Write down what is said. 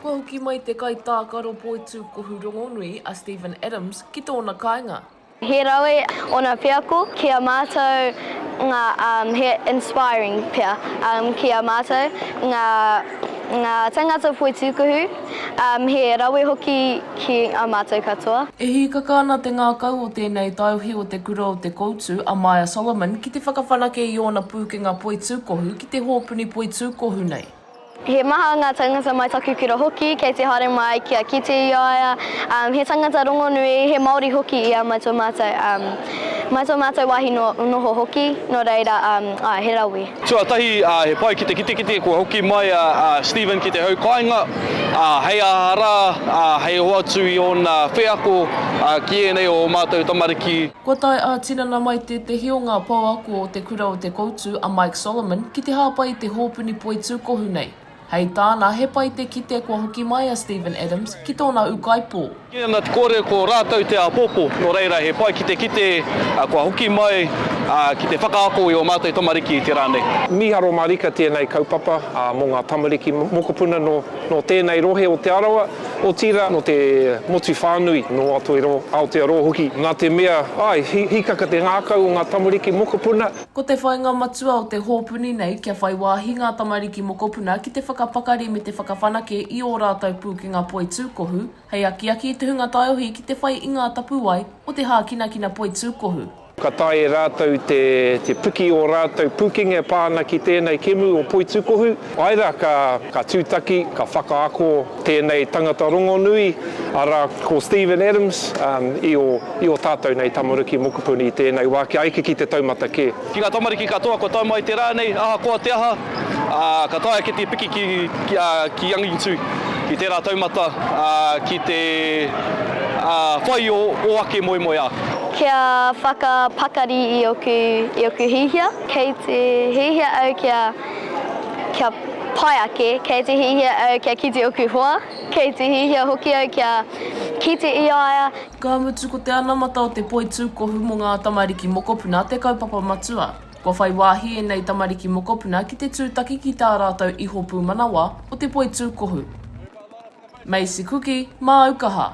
Kua hoki mai te kaitākaro poitū kohu rongonui a Steven Adams ki tōna kāinga. He rawe ōna wheako ki a mātou ngā he inspiring pea ki a mātou ngā tangata poitūkohu. He rawe hoki ki a mātou katoa. E hīkaka ana te ngākau o tēnei taiohi o Te Kura o Te Koutu, a Maya Solomon, ki te whakawhanake i ōna pūkenga poitūkohu ki te hōpuni poitūkohu nei. He maha ngā tāngata mai taku kura hoki, kei te haere mai kia kite i a ia. He tangata rongonui, he Māori hoki ia mai tō mātou. Mai tō mātou wāhi noho hoki, nō reira, āe, he rawe. Tuatahi, he pai ki te kitekite kua hoki mai a Stephen ki te hau kāinga, hei aha rā, hei hoatu i ōna wheako ki ēnei o ō mātou tamariki. Kua tae ā-tinana mai tētehi o ngā pouako o Te Kura o Te Koutu, a Mike Solomon, ki te hāpai i te hōpuni poitūkohu nei. Hei tāna, he pai te kite kua hoki mai a Steven Adams ki tōna ūkaipō. Kīia ana te kōrero ko rātou te āpōpō, nō reira he pai ki te kite kua hoki mai ki te whakaako i ō mātou tamariki i te rā nei. Mīharo mārika tēnei kaupapa mō ngā tamariki mokopuna nō tēnei rohe o Te Arawa, otirā nō te motu whānui, nō Aotearoa hoki, nā te mea, āe, hīkaka te ngākau o ngā tamariki mokopuna. Ko te whainga matua o te hōpuni nei kia whai wāhi ngā tamariki mokopuna ki te whakapakari me te whakawhanake i ō rātou pūkenga poi tūkohu, hei akiaki i te hunga taiohi ki te whai i ngā tapuwae o te hākinakina poi tūkohu. Ka taea e rātou te piki ō rātou pūkenga e pā ana ki tēnei kēmu o poi tūkohu, Āe rā, ka tūtaki, ka whakaako tēnei tangata rongonui, arā, ko Stephen Adams, i ō tātou nei tamariki mokopuni i tēnei wā, kia eke ki te taumata kē. Ki ngā tamariki katoa kua tae mai i te rā nei, ahakoa te aha, ka taea kēti piki ki angitu i tērā taumata ki te whai ō ake moemoeā. Kia whakapakari i oku hiahia. Kei te hiahia au kia Kia pai ake, kei te hiahia au kia kite oku hoa, kei te hiahia hoki au kia kite i a ia. Ka mutu ko te anamata o te poitūkohu mō ngā tamariki mokopuna te kaupapa matua. Kua whai wāhi ēnei tamariki mokopuna ki te tūtaki ki tā rātou iho pūmanawa o te poitūkohu. Macy Kuki, Māu Kaha.